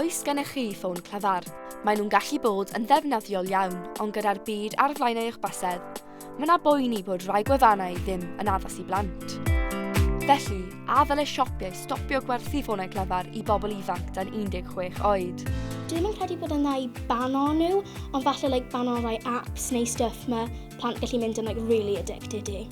Oes gennych chi ffôn clyfar? Maen nhw'n gallu bod yn ddefnyddiol iawn, ond gyda'r byd ar flaen eich bysedd, mae yna boeni bod rhai gwefannau ddim yn addas i blant. Felly, a ddylai siopiau stopio gwerthu ffonau clyfar i bobl ifanc dan 16 oed? Dwi ddim yn credu bod yna i bano nhw, ond falle like, bano rai apps neu stuff mae plant gallu mynd yn like, really addicted i.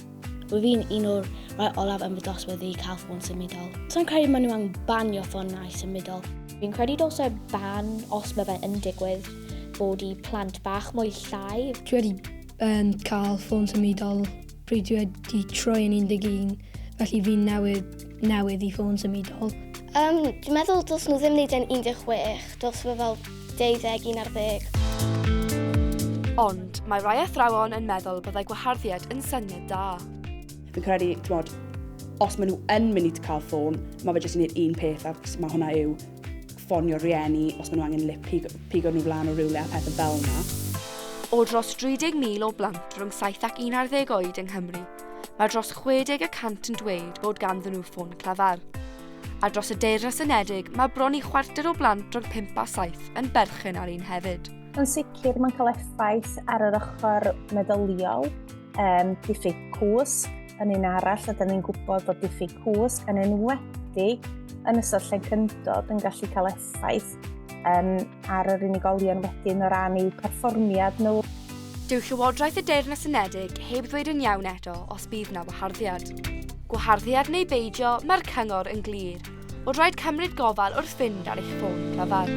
Rwyf i'n un o'r rhai olaf yn fy dosbarth i cael ffôn symudol. Sa'n credu maen nhw angen banio ffonau symudol. Fi'n credu dylse ban, os mae fe yn digwydd, bod i plant bach mwy llai. Dwi wedi um, cael ffôn symudol pryd dwi wedi troi yn 11, felly fi'n newydd, newydd i ffôn symudol. Um, dwi'n meddwl dylse nhw ddim wneud e'n 16, dylse fe fel deuddeg, un ar ddeg. Ond mae rhai athrawon yn meddwl byddai gwaharddiad yn syniad da. Fi'n credu, ti'n bod, os maen nhw yn mynd i cael ffôn, mae fe jyst yn gwneud un peth ac mae hwnna yw ffonio rhieni os maen nhw angen lip pigo, pigo nhw flan o rywle a pethau fel yna. O dros 30,000 o blant rhwng 7 ac 11 oed yng Nghymru, mae dros 60 y cant yn dweud bod ganddyn nhw ffôn clyfar. A dros y Deyrnas Unedig, mae bron i chwarter o blant rhwng 5 a 7 yn berchen ar un hefyd. Yn sicr, mae'n cael effaith ar yr ochr meddyliol, um, diffyg cwsg yn un arall, a dyn ni'n gwybod bod diffyg cwsg yn enwedig yn ystod lle cyndod yn gallu cael effaith um, ar yr unigolion wedyn o ran eu perfformiad nhw. Dyw Llywodraeth y Deyrnas Unedig heb ddweud yn iawn eto os bydd na waharddiad. Gwaharddiad neu beidio, mae'r cyngor yn glir, bod rhaid cymryd gofal wrth fynd ar eich ffôn cyfan.